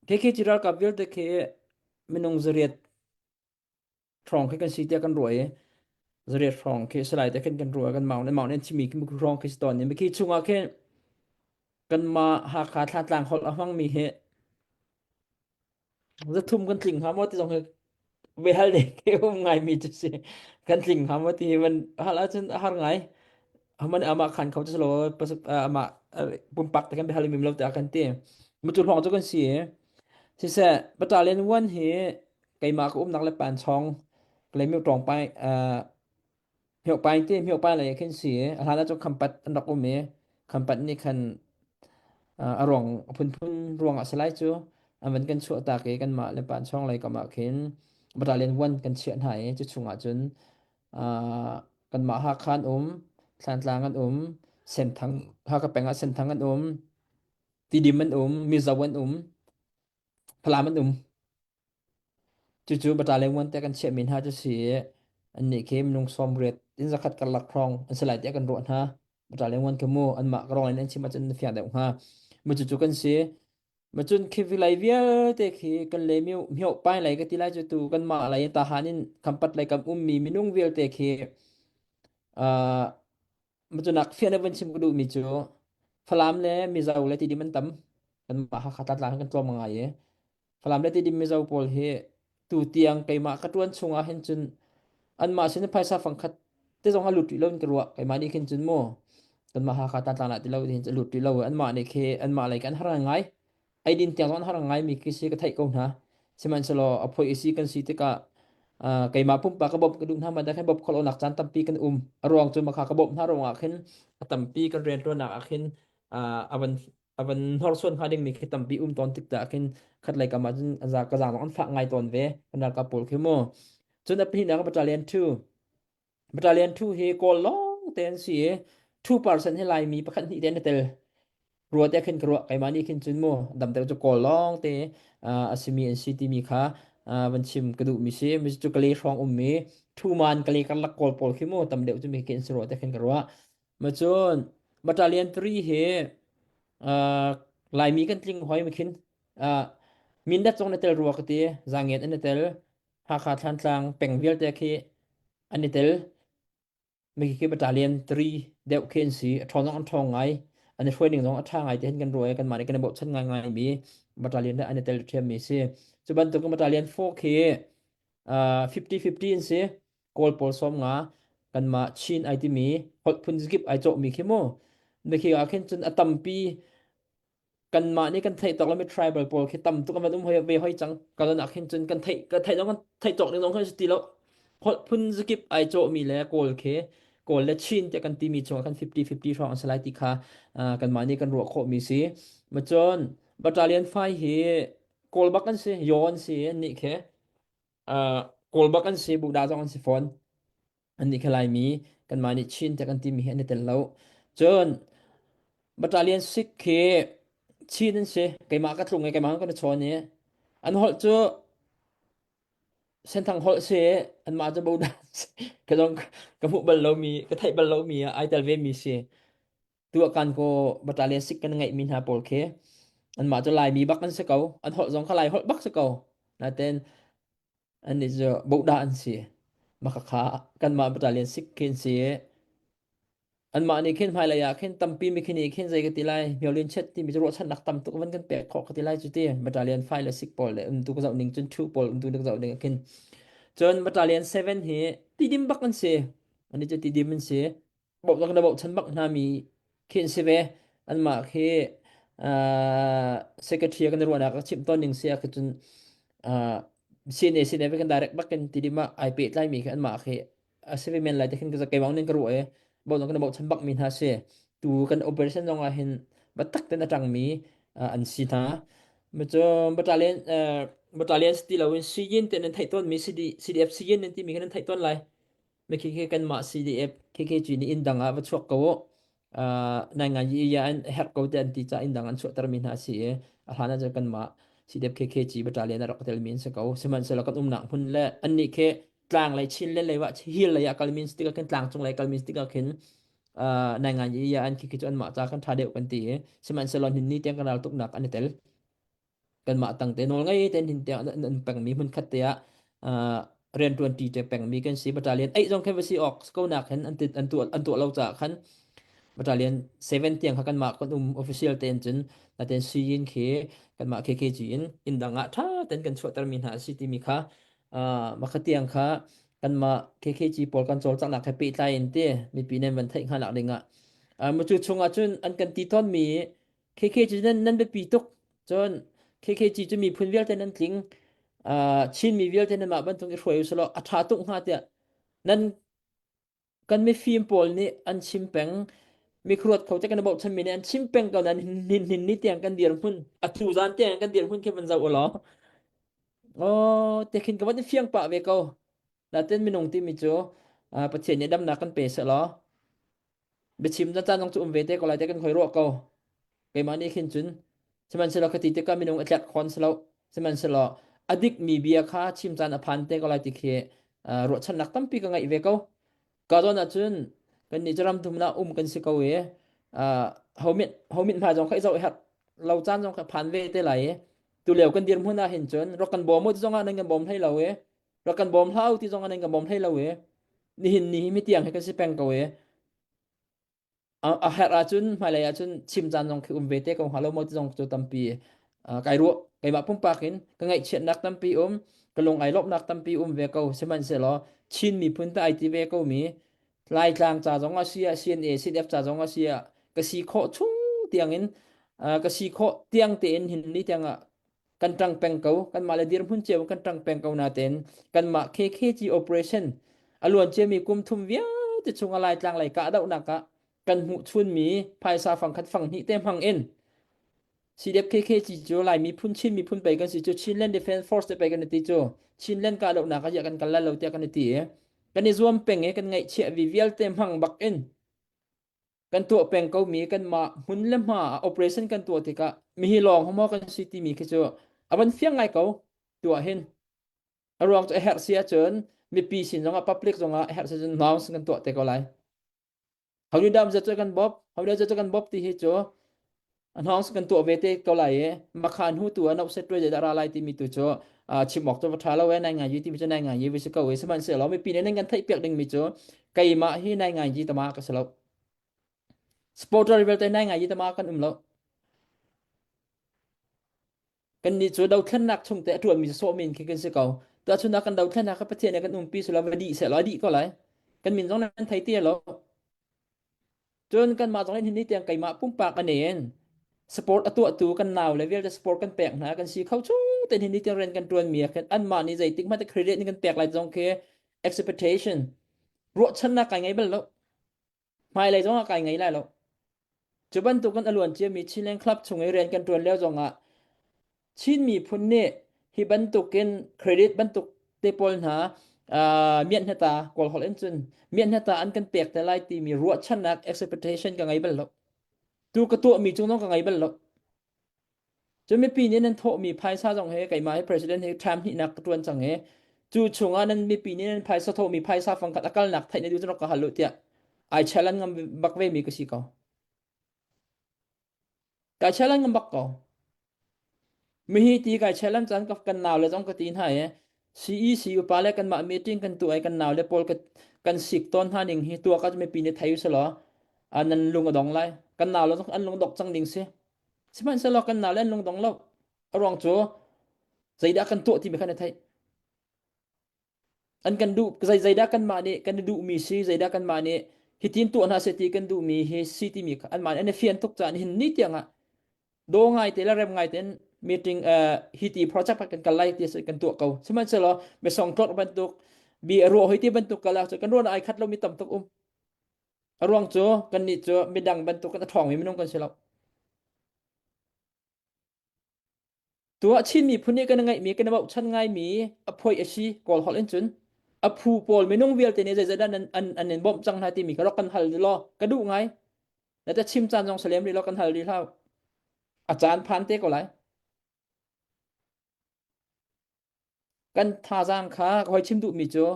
KK ci ralkap vialte khi minung zariat hrawng khi kan si tiah kan ruah i zariat hrawng khi salai te khan kan ruah kan maun maun in thimi khi hrawng khi ton ni khi chungah khi kanmah hakha thlatlang holh a hmangmi hi zathum kan tling hnga maw ti zong hi Biahal nih ke um ngaimi cu si. Kan tling ham a ti. Man hal ahcun a har ngai. Haman amah khan kho cu silo. Amah pumpak te kan biahal i mim lo tiah kan ti. Mucu hrawng cu kan si i, siseh Patalian One hi keimah ka umnak le panchawng ka leimi ṭawng pai Hmiokpai te hmiokpai lei ah khin si i a hlan ah cu khampat an rak um i khampat nih khan uh, a ruang a phunphun ruang ah si lai cu an van kan chuah tak i kanmah le panchawng lei kam ah khin battalion one kan chiah hna i cu chung ah cun uh, kanmah Hakha an um Thlantlang an um Senthang Hakha peng ah Senthang an um Tidim an um Mizo an um Falam an um Cucu baṭa le ngan tiah kan chiahmi hna cu si i annih khi minung sawmriat in zakhat karlak hrawng an si lai tiah kan ruah hna. Baṭa le ngan khi mu anmah ka rawng in an chim ahcun na fiang deuh hnga. Macucu kan si. Macun khi vilei vialte khi kan le miohpain lei ka ti lai cu tu kanmah lei tahan in khampat lei kan ummi minung vialte khi Matunak fian van chim ka duhmi cu Falam le Mizo le ti dim an tam kanmah Hakha Tatlang hi kan tlawm a ngai i Falam le Tidim Mizo pawl hi tu tiang keimah ka ṭuan chungah hin cun anmah sin i phaisa fangkhat te zong ah lut rih lo in ka ruah keimah nih khin cun mu kanmah Hakha Tatlang ah ti lo ti hin cu lut rih lo anmah nih khi anmah lei kan har ngai Eidin tiang zong an har ngaimi khi si ka theih ko hna. Sihmanhsehlaw a phoih isi kan si tikah uh, keimah pumpak ka bawmh ka duh hna ma khin bawp khol onak caan tampi kan um. A ruang cu makha ka bawmh hna ruangah khin a tampi kan riantuanak ah khin uh, avan avan horsuan hnga dingmi khi tampi um ton tik da khin khatlei kamah cun aza ka zang an fak ngai ton ve kan ralkap pawl khi mu. Cun api na ka pacalian tu Battalion thu hi kawl lawng te an si i two person hi Laimi pakhat hnih te an tel ruat te khin ka ruah keimah nih khin cun mu damter cu kawl lawng te uh, a simi an si timi kha uh, van chim ka duhmi si mi cu kale hrawng ummi thu man kale karlak kawl pawl khi mu tam deuh cu mi khi an si ruah te khin ka ruah ma cun battalion 3 hi uh, Laimi kan tling hoi mi khin uh, mindat zong na tel ruwa ka ti zangian an na tel Hakha Thlantlang peng vialte khi an i tel. Mi khi battalion tari deuh khi an si. A ṭhawng zong an ṭhawng ngai. An i hruai ning zong a ṭha ngai ti hin kan ruah i kanmah nih kan i bochan ngai ngai mi battalion le an i tel ṭhiammi si. Cu bantuk in battalion 4 khi uh, 50-50 an si. Kawl pawl sawm nga. Kanmah Chin ai timi holh phun zakip ai cawhmi khi mu. Mi khi ah khin cun a tampi kanmah nih kan theih tawk le mi tribal pawl khi tam tuk an van um hoi ve hoi cang ka lan ah khin cun kan theih ka theih lawng kan theih tawk ding lawng khan si ti lo phun zakip ai chaw mi le kawl khi kawl le chin tiah kan ti mi chung ah khan 50 50 hrawng an lai ti kha kan mah nih kan ruah khawh mi si ma cun battalion 5 hi kawl bak an si yawn si nih khe Uh, Kawl bak an si, Buddha zong an si fawn. An nih kha Laimi, kanmah nih Chin tiah kan timi hi an i tel lo. Cun, Battalion 6 khi Chin an si, keimah ka tlung i keimah kan i chawn i, an holh cu Senthang holh si, anmah cu Buddha si. Ka zong ka hmuh bal lomi, ka theih bal lomi, ai tel vemi si. tuahkan ko battalion sik kan ngeih mi hna pawl khi anmah cu Laimi bak an si ko an holh zong kha Lai holh bak si ko naten an ni cu boda an si maka kha kanmah battalion sik khin si anmah nih khin hmailei ah khin tampi mi khi nih khin zei ka ti lai miolin chet ti mi ruah channak tam tuk van kan pek khawh ka ti lai cu ti battalion five le six pawl le umtu ka zoh ning cun two pawl umtu ka zoh ning khin cun battalion seven hi tidim bak an si ani cu tidim an si bawmh na ka bochan bak hna mi khi an si ve anmah khi uh, secretary kan ruahnak ka chimh ton ning sia ka cun uh, CNA CNA ve kan direct bak kan ti di ma ai pe tlai mi khi anmah khi a si ve men lai te khin ka keimang ning ka ru e bawm kan bochan bak mi hna se tu kan operation zong ah hin batak ten atang mi uh, an si hna ma cho battalion uh, battalion sti lo in siyin ten an thai ton mi CD CDF siyin an ti mi kan an thai ton lai Me khike kan mah CDF khike cu ni in dang ah va chuak ko uh, nai nga yi ya an her ko te an ti cha in dang an chuak ter mi hna si e a hana ja kan ma CDF khike ci bata le na rak tel min se ko siman se la kan um nak hun le an ni ke tlang lai chin le leiwa hil le ya kal min stika kan tlang chung lai kal min stika khin uh, nai nga yi ya an khike chu an ma cha kan tha deu kan ti siman se lon hin ni te kanal tuk nak an tel kanmah tang te nawl ngei ten hin te an, an, an pengmi hmun khat te ah uh, riantuan ti te pengmi kan si battalion ei zong khan va si ok ko nak hen an an tu an tu lo ca khan battalion 7 tiang kha kanmah kan um official ten cun laten siin khi kanmah KKG in in dang ah tha ten kan chuahter mi hna si timi kha uh, makhatiang kha kanmah KKG pawl kan chol chaknak he pehtlai in te mipi nen van theih hnga lak ding ah uh, mu chu chung ah cun an kan ti ton mi KK cu nan nan biapi tuk cun KKG cu miphun vialte nan tling uh, Chinmi vialte nan mah bantuk i hruai usulaw a ṭha tuk hnga tiah nan kan mifim pawl nih an chim peng mikruat kho te kan bochanmi nih an chim peng ko nan hin hin ni tiang kan dir hmun a tu zan tiang kan dir hmun khi van zoh ulaw o te khin ka van fiang pa ve ko latin minung timi cu uh, pathian nih damnak kan pe selaw Biachim na caan cu um ve te ko lai te kan hoi ruah ko. Keimah nih khin cun sihmanhsehlaw khati tikah minung a tlet khon selo sihmanhsehlaw a dikmi bia kha chim caan a phan te ko lai ti khi uh, ruahchannak tampi ka ngeih ve ko. Ka zawn ahcun kannih cu ramthum na um kan si ko i uh, homit homit hma zong kha i zoh herh lo caan zong kha phan ve te lai i tulio kan dirhmun ah hin cun rak kan bawm u zong ah nan kan bawm hlei lo i rak kan bawm hlau ti zong anen kan bawm hlei lo i nihin ni hi mi tiang hi kan si peng ko i a, a herh ahcun hmailei ahcun chim caan zong khi um ve te ko hnga lo mo ti zong cu tampi uh, kai ruah keimah pumpak in ka ngaihchiatnak tampi um ka lungai lawmhnak tampi um ve ko sihmanhsehlaw Chin miphun ta ai ti ve ko mi Laitlang ca zong a si ah CNA CDF ca zong a si ah ka si khawh chung tiang in uh, ka si khawh tiang tein hin ni tiang ah kan tang peng ko kanmah le dirhmun cio kan tang peng ko naten kanmah KKG operation aluan ciami kum thum vialte chung a laitlang lei ka dohnak ah kan hmu chunmi phaisa fang khat fang hnih te hmang in CDF KKG cu lai miphun Chin miphun pei kan si cu Chinland Defense Force te pei kan ti cu Chinland ka dohnak ah kan kal lo tiah kan ti kan i zuam peng i kan ngaih chiah vi vialte hmang bak in kan tuah peng ko mi kanmah hmun le hma operation kan tuah tikah mihi lawng homo kan si timi khi cu a van fiang ngai ko tuah hin a ruang cu a herh si ahcun mipi sin zongah public zongah a herh si cun nounce kan tuah te ko lai holiday zet cu kan bop holiday zet cu kan bop ti hi cu Hnawng kan tuah ve te ko lai i makhan hu tu anok set tuai da ra lai ti mi tu chu chim ok tu va tha lo e nai ngai yi ti mi chu nai ngai yi vi su ko e sman se lo mi pi ne kan thai piak ding mi chu keima hi nai ngai yi tama ka se lo supporter rival te nai ngai yi tama kan um lo Kannih cu dothlennak chungte a ṭuanmi sawsawh men khi kan si ko. Tahchun ah kan dothlennak kha Pathian nih a kan umpi sullam va dih sehlaw a dih ko lai. Kan min zong nan thei ti lo. Cun kanmah zong nih nihin ni tiang keimah pumpak a nen support a tuahtu kan nau le vialte support kan pek hna kan si kho chung te nihin ni tiang rian kan ṭuanmi ah khan anmah nih zeitik hmanh credit nih kan pek lai zong khi expectation ruahchannak kai ngei bal lo. hmailei zongah kai ngei lai lo cu bantukin a luan ciami Chinland Club chung i rian kan ṭuan lio zongah Chin miphun nih hi bantukin credit bantuk te pawl hna uh, miat hnata kawl holh in cun miat hnata an kan pek te lai timi ruahchannak expectation ka ngei bal lo tu ka tuahmi cung zong ka ngei bal lo Cu mipi nih nan thawhmi phaisa zong he keimah hi president hi term hnihnak ka tuan cang i cu chungah nan mipi nih nan phaisa thawhmi phaisa fangkhat a kalnak theih na duh cun rak ka hal u tiah ai chalan ngam bak vemi ka si ko. Kai chalan ngam bak ko. Mihi ti kai chalan chan ka kan nau le zong ka ti hna i CEC upa le kanmah meeting kan tu ai kan nau le pawl kan sik ton hna ning hi tua ka mipi ne thai se law nan lung a dong lai kan nau lo an lung dok cang ning si sihmanhsehlaw kan nau le an lung dong lo a ruang cu zeidah kan tuah ti mi khan a thai an kan duh zeidah kan mah nih kan duh mi si zeidah kan mah nih hitin tuah hna se ti kan duh mi hi si ti mi kha an mah an fian tuk caan hin ni tiangah do ngai te le rem ngai ten meeting uh, hi ti project kan kal lai ti kan tuah ko sihmanhsehlaw me song tlot bantuk bi ruo hoi ti bantuk kala chu kan ruan ai khat lo mi tam tuk um ruang chu kan ni chu midang bantuk kan thong mi minung kan si lo Tuah Chin miphun nih kan i ngaihmi kan i bochan ngaimi a phui a si kawl holh in cun a phu pawl minung vialte nih zeizat an an an in bawmh cang hna timi kha rak kan hal dih law ka duh ngai na ta chim caan zong salem rih law kan hal dih hlah a caan phan te ko lai kan thazaang kha ka hoi chim duhmi cu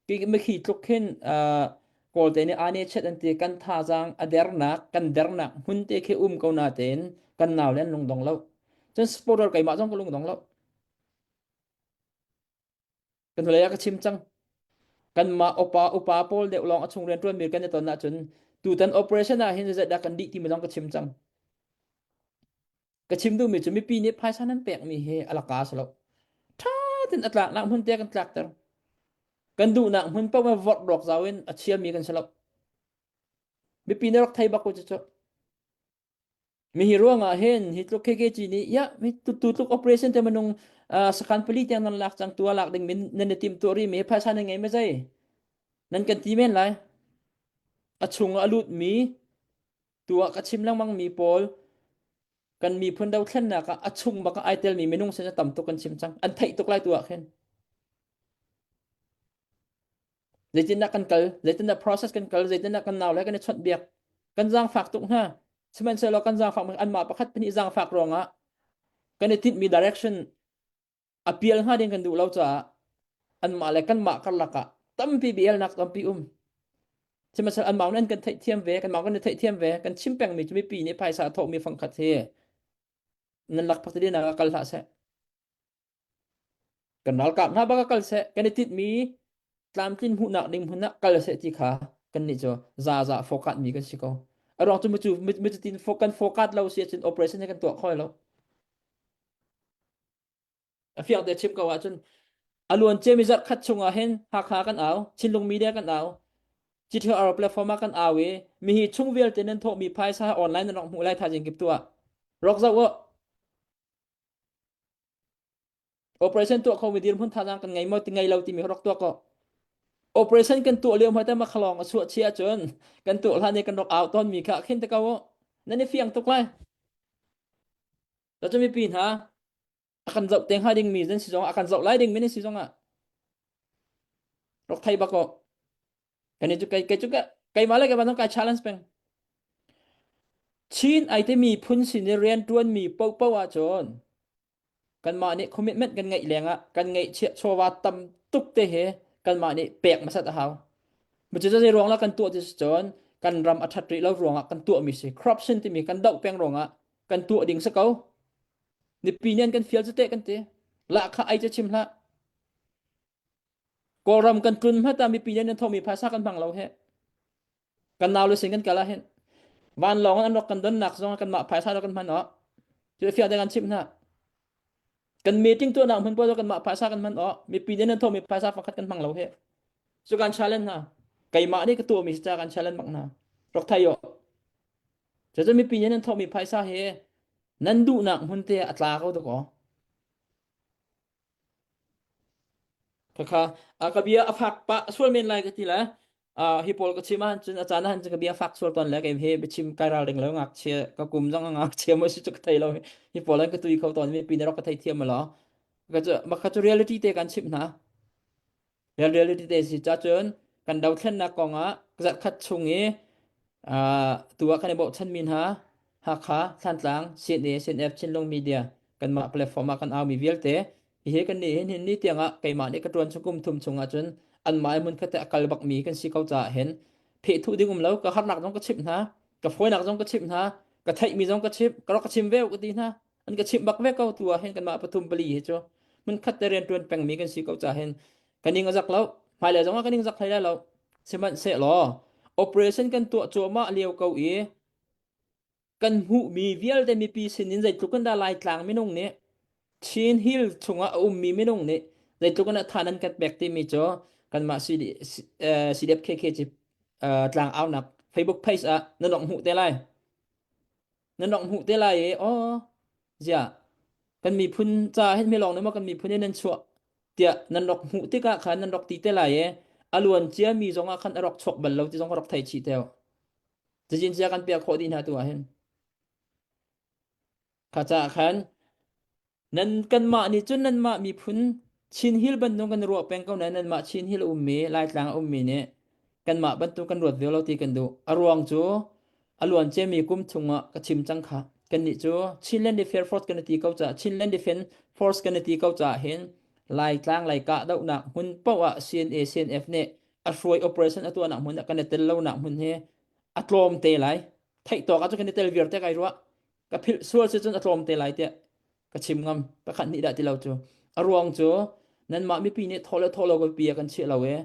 ki mikhi tluk khin uh, kawlte ni ane chet an ti kan thazaang a dernak kan dernak hmun te khi um ko na tein kan nau len lung dong lo cun sporter keimah zong ka lung dong lo kan lei ka chim cang kan ma opa upa paul deuh long a chung rian tuan mi kan ton na cun tutan operation ah hin zet da kan di ti ma zong ka chim cang ka chim duhmi cu mipi nih phaisa nan pekmi hi alaka si lo ṭha tin a tlaknak hmun te kan tlakter kan duhnak hmun paoh vorh rawk zau in a chiami kan si lo mipi na rak thei bak cu cu mi hi ruangah hin hi tluk KKG nih ya mi tu tluk operation te manung sakan pali te nan lak chang tua lak ding min nan tim tu ri me phaisa nan ngei ma zai nan kan ti men lai a chung a lut mi tu ah ka chim lengmang mi pawl kan miphun dothlennak ah a chung bak ah ai telmi minung sin tam tuk kan chim cang an theih tuk lai tu ah khin zeitindah kan kal zeitindah process kan kal zeitindah kan nau le kan i chawnh biak kan zaangfak tuk hna sihmanhsehlaw kan zaangfak an mah pakhat pahnih zaangfak ruangah kan i tinh mi direction a pial hnga ding kan duh lo caah anmah le kanmah karlak ah tampi bialnak tampi um sihmasal anmah nan kan theihthiam ve kanmah kan theihthiam ve kan chim pengmi cu mipi nih phaisa a thawhmi fangkhat hi nan lak paktidinak ah kal hlah seh kan ralkap hna baka kal seh kan i titmi tlamtlin hmuhnak ding hmun ah kal seh ti kha kan nih cu za za fokat mi kan si ko a ruang cu mu cu mu cu tin kan fokat lo si cun operation he kan tuah khoi lo a fiak te chim ko ahcun aluan cemi zarh khat chungah hin hakha kan au chinlung media kan au chithil aro platform ah kan au i mi hi chung vialte nan thawhmi phaisa online nan rong hmuh lai thazing kip tuah rok zau o operation tuah kho mi dir mun thazang kan ngei mo ti ngei lo ti mi rok tuah ko operation kan tuah liam hote ma khalong asu chi achun kan tuah hlan i kan rok au ton mi kha khin te ko nan i fiang tuk lai Na cu mipi hna a kan zoh te hnga dingmi nan si zong a kan zoh lai dingmi nan si zong ah rak thei bak ko kan i cu kai kai cu keimah le keimah kai challenge peng Chin ai te miphun sin i rian tuan mi popo ah cun kanmah nih commitment kan ngeih lengah kan ngeih chiah chawwa tam tuk te he kanmah nih pek masat a hau Macu cu zei ruang la kan tuah ti cun kan ram a that rih lo ruangah kan tuah mi si corruption timi kan doh peng ruangah kan tuah ding sa ko nipi nian kan fial cute kan te la kha ai che chim hla kawlram kan tlun hma ta mipi nian nan thomi phasa kan hmang lo he kan nau le sin kan kala hen van lawng an rak kan don nak zong kan ma phaisa kan hman o ti fia dang an chim na kan meeting tu na mun po kan ma phaisa kan hman o mipi nian nan thomi phaisa pakhat kan hmang lo he su kan challenge na kai ma ni ka tu mi sa kan challenge mak na rok thayo Cacu mipi nih nan thawhmi phaisa hi nan duhnak hmunte a tla ko ta kaw. Khakha a ka bia a fak pa sual men lai ka ti la hi pol ka chim an cun a caan han ka bia fak sual ton le kei he bichim kai ral ring lo ngak chia ka kum zong ngak chia mo su chu ka thei lo hi pol an ka tui kho ton mi pi ne ro ka thei thiam lo ka chu ma ka chu reality te kan chim hna Yan reality te si cha cun kan dothlennak kong ah zarhkhat chung i uh, tu ah kan i bochan mi hna Hakha, Thantlang, CNA, CNF, Chinlung Media kanmah platform ah kan au mi vialte hihi kan nih hin hin ni tiang ah keimah nih ka ṭuan chung kum thum chung ah cun anmah i hmun khatte a kal bak mi kan si ko caah hin phehthuh ding um lo ka harnak zong ka chimh hna ka fawinak zong ka chimh hna ka theih mi zong ka chimh ka rak ka chim ve ka ti hna an ka chimh bak ve ko tu ah hin kanmah pathum pali hi chu mun khat te rian tuan pengmi kan si ko cha hin kan ning azak lo hmai le zong ah kan ning zak hlei lo sihmanh se law operation kan tuah cuahmah lio ko i kan hmuh mi vialte mipi sin in zeitluk kan da lai tlang minung nih Chin Hill chungah a ummi minung nih zeitluk in than an kan pek timi cu kanmah CDF KK ci tlang aunak Facebook page ah na dong hmuh te lai nan rak hmuh te lai i aw ziah kan miphun ca he me lawng nih maw kan miphun hi nan chuah tiah nan rak hmuh tikah khan nan rak ti te lai i a luan cia mi zong ah khan a rak chuak bal lo ti zong ka rak thei chih theo cacin cia kan piak khawh dih hna tu ah hin kha caah khan nan kanmah nih cun nanmah miphun Chin hil bantuk kan ruah peng ko nain nanmah Chin hil a ummi Laitlang a ummi nih kanmah bantuk kan ruat viau lo ti kan duh a ruang cu a luan ciami kum chungah ka chim cang kha kannih cu Chinland Defense Force kan i ti ko caah Chinland Defense Force kan i ti ko caah hin Laitlang lai kahdohnak hmun poah CNA CNF nih a hruai operation a tuahnak hmun ah kan i tel lonak hmun hi a tlawm te lai theih tawk ah cu kan i tel viarte kai ruah ka philh sual cu cun a tlawm te lai tiah ka chim ngam pakhat nih dah ti lo cu a ruang cu nanmah mipi nih thawlo thawlo ka pi a kan chiah lo e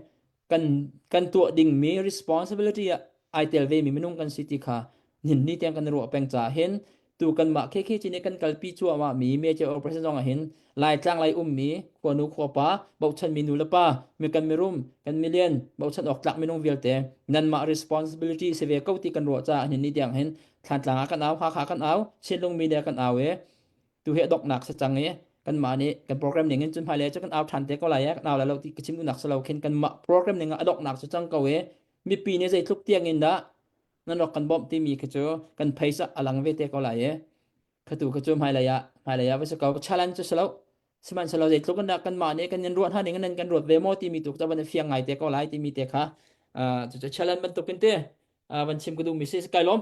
kan kan tuah dingmi responsibility ah ai tel vemi minung kan si ti kha ninni tiang kan ruah peng ca hin tu kanmah khekhe ci nih kan kalpi cuahmah mi major operation zong ah hin laitlang lai ummi khuanu khuapa bochan mi nu le pa mi kan mirum kan million bochan awk tlak minung vialte nanmah responsibility si ve ko ti kan ruah caah ninni tiang hin thlan ah kan au kha kha kan au chilung mi le kan au e tu he dok nak sa chang e kan ma ni kan program ning in chun hale chu kan au than te ko lai e kan au la lo ti ka chim du nak sa lo khin kan ma program ning adok nak sa chang ko e mi pi ni zai thlup tiang in da nan rok kan bom ti mi ke chu kan phaisa alang ve te ko lai e khatu ka chu mai la ya mai la ya va sa ko challenge chu salo sihmanhsehlaw zeitluk in kanmah nih kan in ruah hna ning in kan ruat ve maw timi tu cu van i fiang ngai te ko lai timi te kha cucu challenge bantukin te van chim ka duhmi si kai lawm